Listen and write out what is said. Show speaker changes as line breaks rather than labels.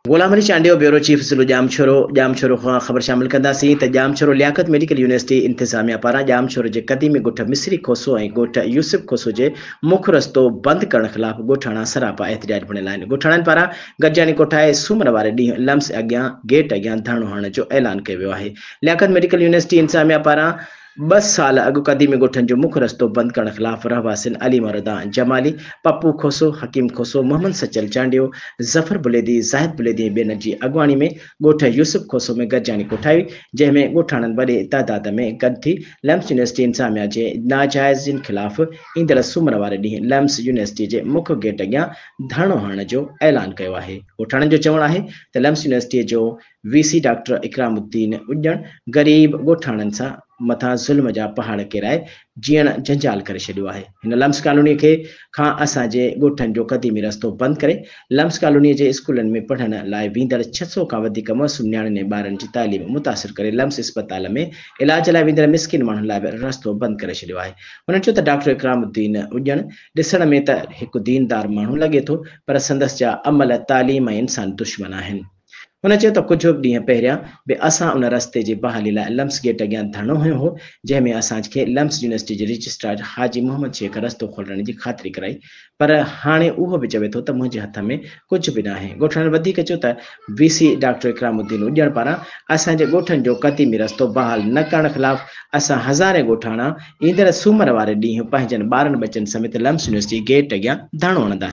غلام Ali Chandio, bureau chief ضلعو Jamshoro, Jamshoro کان خبر شامل ڪنداسين ته Jamshoro Liaquat medical university انتظاميا پاران ڄام شورو جي قديمي ڳوٺ مصري کوسو ۽ ڳوٺ يوسف کوسو جي مک رستو بند ڪرڻ خلاف ڳوٺاڻا سراپا احتجاج بڻيل آهن ڳوٺاڻن پاران گڏجاڻي ڪوٺائي سومر واري ڏينهن لمس اڳيان گيٽ اڳيان ڌرڻو هڻڻ جو اعلان ڪيو ويو آهي لياقت ميڊيڪل يونيورسٽي انتظاميا پاران ٻه سال اڳ قديمي ڳوٺن جو مک رستو بند ڪرڻ خلاف رهواسين علي مردان جمالي، پپو کوسو، حڪيم کوسو، محمد سچل چانڊيو، ظفر بليدي، زاهد بليدي ۽ ٻين جي اڳواڻي ۾ ڳوٺ يوسف کوسو ۾ گڏجاڻي ڪوٺائي هئي، جنهن ۾ ڳوٺاڻن وڏي تعداد ۾ گڏ ٿي لمس يونيورسٽي انتظاميا جي ناجائزين خلاف ايندڙ سومر واري ڏينهن لمس يونيورسٽي جي مک گيٽ اڳيان ڌرڻو هڻڻ جو اعلان ڪيو آهي. ڳوٺاڻن جو چوڻ آهي ته لمس يونيورسٽي جو V C doctor Ikramuddin Ujjan غريب ڳوٺاڻن سان مٿان ظلم جا پهاڙ ڪيرائي جيئڻ جنجال ڪري ڇڏيو آهي هن لمس ڪالوني کي کان اسان جي ڳوٺن جو قديمي رستو بند ڪري لمس ڪالوني جي اسڪولن ۾ پڙهڻ لاء ويندڙ ڇهه سؤ کان وڌيڪ معصوم نياڻين ۽ ٻارن جي تعليم متاثر ڪري لمس اسپتال ۾ علاج لاء ويندڙ مسڪين ماڻهن لاء به رستو بند ڪري ڇڏيو آهي هن چيو ته ڊاڪٽر اڪرام الدين اڄڻ ڏسڻ ۾ ته هڪ دين دار ماڻهو لڳي ٿو پر سندس جا عمل تعليم ۽ انسان دشمن آهن. هن چيو ته ڪجهه ڏينهن پهريان به اسان ان رستي جي بحالي لاء لمس گيٽ اڳيان ڌرڻو هنيو هو، جنهن ۾ اسان کي لمس يونيورسٽي جي رجسٽرار حاجي محمد شيخ رستو کولرڻ جي خاطري ڪرائي پر هاڻي اهو به چوي ٿو ته منهنجي هٿ ۾ ڪجهه به ناهي. ڳوٺاڻن وڌيڪ چيو ته V C doctor Ikramuddin Ujjan پاران اسان جي ڳوٺن جو قديمي رستو بحال نه ڪرڻ خلاف اسان هزارين ڳوٺاڻا ايندڙ سومر واري ڏينهن پنهنجن ٻارن ٻچن سميت لمس يونيورسٽي گيٽ اڳيان ڌرڻو هڻنداسين.